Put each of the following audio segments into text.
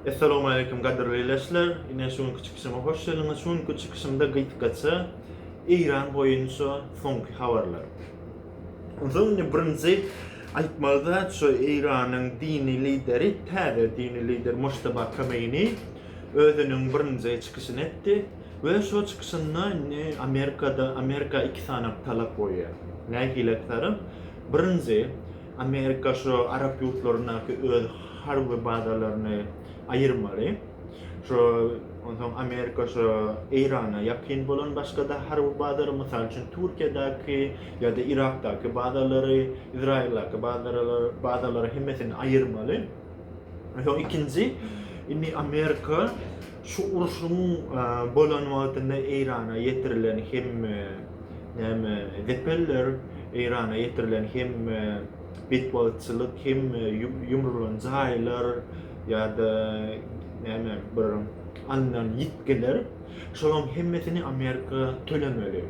Essalawmaleýkim gadyrly ileçiler! Ine şu günki çykyşyma hoş geldiňiz. Şu günki çykyşymda gysgaça Eýran boýunça soňky habarlar. Onsoň indi birinji aýtmaly zat şu Eýranyň dini lideri, täze dini lider Mojtaba Kameini özüniň birinji çykyşyny etdi we şu çykyşynda indi Amerikada Amerika iki sany talap goýýar. Nähili etsaram birinji Amerika şu arap ýurtlaryndaky öz harby bazalaryny aýyrmaly. Şu onsoň Amerika şu Eýrana ýakyn bolan başga-da harby bazary, mysal üçin Türkiýedäki ýa-da Yrakdaky bazalary, Izraýyldaky bazalary hemmesini aýyrmaly. Onsoň ikinji indi Amerika Şu urşuň bolan wagtynda Eýrana ýetirilen hemme näme zepeller, Eýrana ýetirilen hemme betbagtçylyk, hemme ýumrulan jaýlar ýa-da näme bir alnan ýitgiler, şolaryň hemmesini Amerika tölemeli.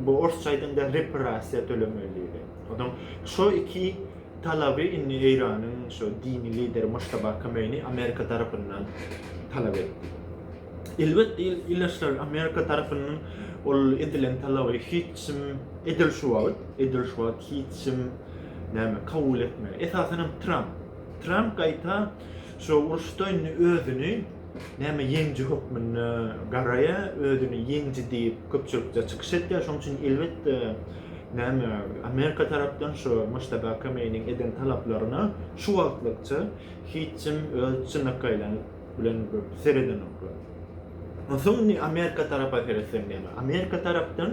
Bu orsça aýdanda repressiýa tölemeli diýilýär. Onsoň şo iki talaby indi Eýranyň şu dini lideri Muştaba Kameini Amerika tarapyndan talap etdi. Elbetde il, ildeşler Amerika tarapyndan ol edilen talaby hiç kim edil şu wagt, edil şu wagt hiç kim näme kabul etmeli. Esasan hem Tramp. Tramp gaýta şu uruşda indi özüni Näme ýeňji hökmünde garaýa, özüni ýeňji diýip köpçülikde çykyş etýä, şoň üçin elbetde näme Amerika tarapdan şu Mojtaba Kameiniň eden talaplaryna şu wagtlykça hiç kim öz çynakaýlary bilen seredenoklar. Onsoň indi Amerika tarapa seretseň näme? Amerika tarapdan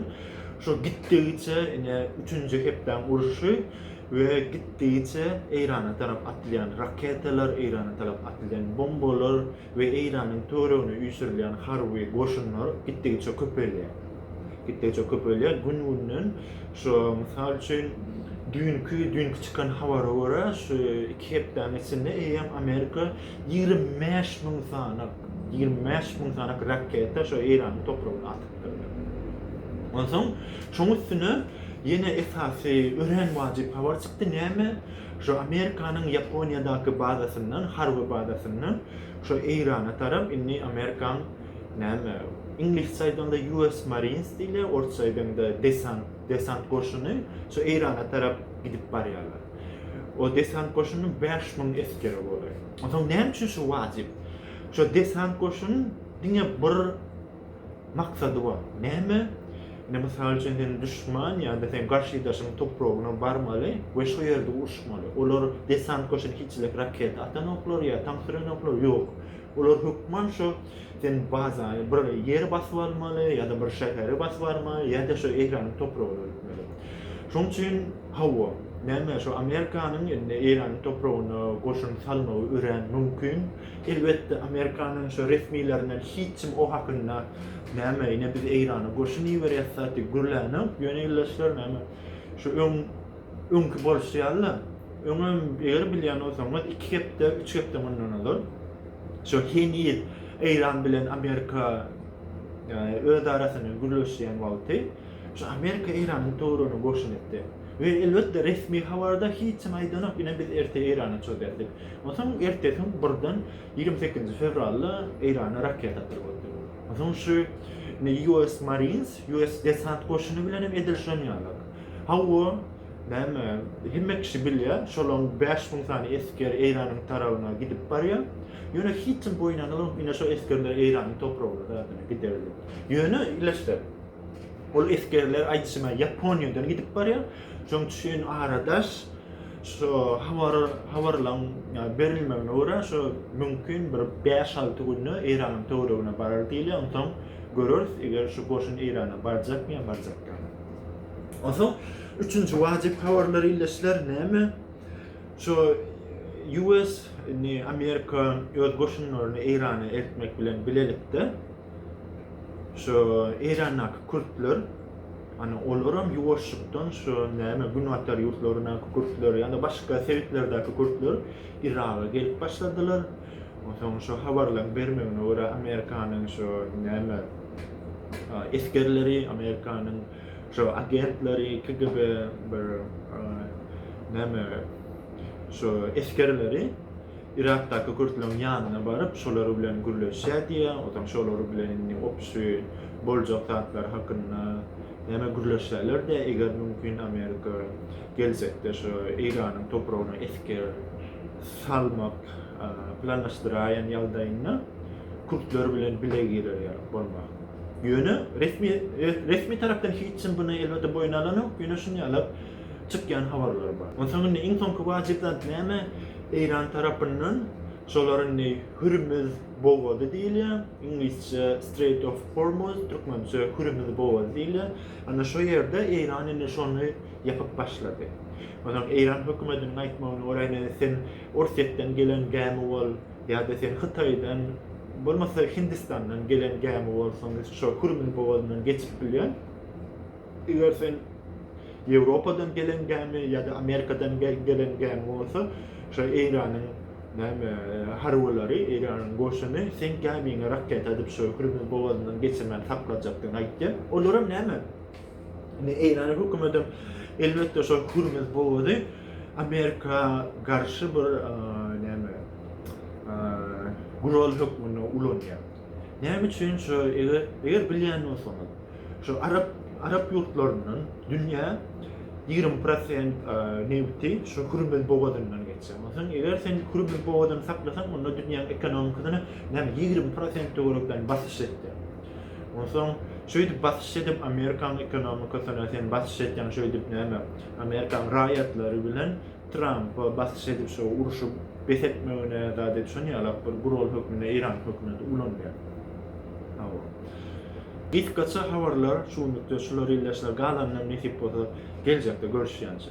şu gitdigiçe ine üçünji hepdäň urşy we gitdigiçe Eýrana tarap atylýan raketalar, Eýrana tarap atylýan bombalar we Eýranyň töweregine üýşürilýän harby goşunlar gitdigiçe köpelýär. Gitdigiçe köpelýär. Gün-günden şu mysal üçin düýnki düýnki çykan habara görä şu iki hepdäniň içinde eýýäm Amerika ýigrimi bäş müň sany ýigrimi bäş müň sany raketa şu Eýranyň topragyna atypdyr. Onsoň şoň üstüne Ýene esasy örän wajyp habar çykdy, näme? Şu Amerikanyň Ýaponiýadaky bazasyndan, harby bazasyndan şu Eýrana tarap indi Amerikaň näme, iňlisçe aýdaňda US Marines diýilýär, orsça aýdaňda desant, desant goşuny şu Eýrana tarap gidip barýarlar. O desant goşunynyň bäş müň esgeri bolar. Onsoň näme üçin şu wajyp? Şu desant goşuny diňe bir Maksady bar. Näme? Indi mysal üçin sen duşman ýa-da sen garşydaşyň topragyna barmaly we şo ýerde uruşmaly. Olar desant goşuny hiçlik raketa atan oklar ýa tank süren oklar ýok. Olar hökman şo sen baza bir ýeri basyp almaly ýa-da bir şäheri basyp almaly ýa-da şo Eýranyň topragyna ötmeli. Şoň üçin hawa, näme şo Amerikanyň indi Eýranyň topragyna goşun salmagy örän mümkin. Elbetde Amerikanyň şo resmilerinden hiç kim o hakynda näme ine biz Eýrana goşun iberyas zat diýip gürlänok ýöne ildeşler näme şu öň öňki bolşy ýaly öňem eger bilýän bolsaňyz iki hepde üç hepde mundan ozal şo heniz Eýran bilen Amerika ýa öz arasynda gürleşýän wagty şu Amerika Eýranyň töweregine goşun etdi we elbetde resmi habarda hiç kim aýdanok ine biz erte Eýrana çozýas diýip Onsoň ertesiň birden ýigrimi sekizinji fewralda Eýrana raketa pirgedi. Onsoň şu indi US Marines, US desant goşuny bilen hem edil şonýalar. Hawa, näme, hemme kişi bilýär, şolaň bäş müň sany esger Eýranyň tarabyna gidip barýar. Ýöne hiç kim boýun algalmap, ine şo esgerler Eýranyň topragyna zadana gider diýip. Ýöne ileşse, ol esgerler aýdyşyma Ýaponiýadan gidip barýar. Şonuň üçin aradaş. Şu habar habarlaryň berilmegine görä, şu mümkin bir bäş-alty günde Eýranyň töweregine barar diýilýär. Onsoň göreris, eger şu goşun Eýrana barjakmy ýa barjak dälmi. Onsoň üçünji wajyp habarlar ildeşler näme? Şu US, indi Amerika öz goşunlaryny Eýrana eltmek bilen bilelikde, Şu Eýrandaky kürtler, hany olaram ýuwaşjykdan şu näme günbatar ýurtlaryndaky kürtler ýa-da başga sebitlerdäki kürtler Yraga gelip başladylar. Onsoň şu habarlaryň bermegine görä Amerikanyň şu näme esgerleri, Amerikanyň şu agentleri, KGB bir näme şu esgerleri Yrakdaky kürtleriň ýanyna baryp, şolar bilen gürleşýär diýýär. Onsoň şolar bilen indi obşy boljak zatlary hakynda näme gürleşerler diýýär, eger mümkin Amerika geljekde şu Eýranyň topragyna esger salmak planlaşdyraýan ýagdaýynda kürtler bilen bile girer ýaly bolmak. Ýöne resmi resmi tarapdan hiç kim buna elbetde boýun alanok, ýöne şuny ýaly çykýan habarlar bar. Onsoň indi iň soňky wajyp zat näme? Eýran tarapyndan şolar indi Hürmüz bogazy diýilýär, iňlisçe Strait of Hormuz, türkmençe Hürmüz bogazy diýilýär. Ana şo ýerde Eýran indi şony ýapyp başlady. Onsoň Eýran hökümetiniň aýtmagyna görä indi sen Orsýetden gelen gämi bol ýa-da sen Hytaýdan bolmasa Hindistandan gelen gämi bol, soň şo Hürmüz bogazyndan geçip bilýän. Eger sen Ýewropadan gelen gämi ýa-da Amerikadan gelen gämi bolsa, şo Eýranyň näme harbylary, Eýranyň goşuny seň gämiňe raketa atyp, şo Hürmüz bogazyndan geçirmän saklajakdygyny aýtýar. Olaram näme, indi Eýrany hökümetem elbetde şo Hürmüz bogazy Amerika garşy bir näme, gural hökmünde ulanýar. Näme üçin şu eger eger bilýän bolsaňyz şu arap arap ýurtlaryndan dünýä 20 prosent nebiti şu Hürmüz bogadyndan geçýär. Onsoň eger sen Hürmüz bogadyny saklasaň onda dünýäň ekonomikasyna näme 20 prosent töwerekden basyş etdi. Onsoň şeýdip basyş edip Amerikaň ekonomikasyna sen basyş etýäň şeýdip näme Amerikaň raýatlary bilen Trampa basyş edip şo urşy bes etmegine zat edip şon ýalak bir gural hökmünde Eýran hökümeti ulanýar. Hawa. Gysgaça habarlar şu günlükde şular ildeşler galanynam nesip bolsa geljekde görüşýänçä.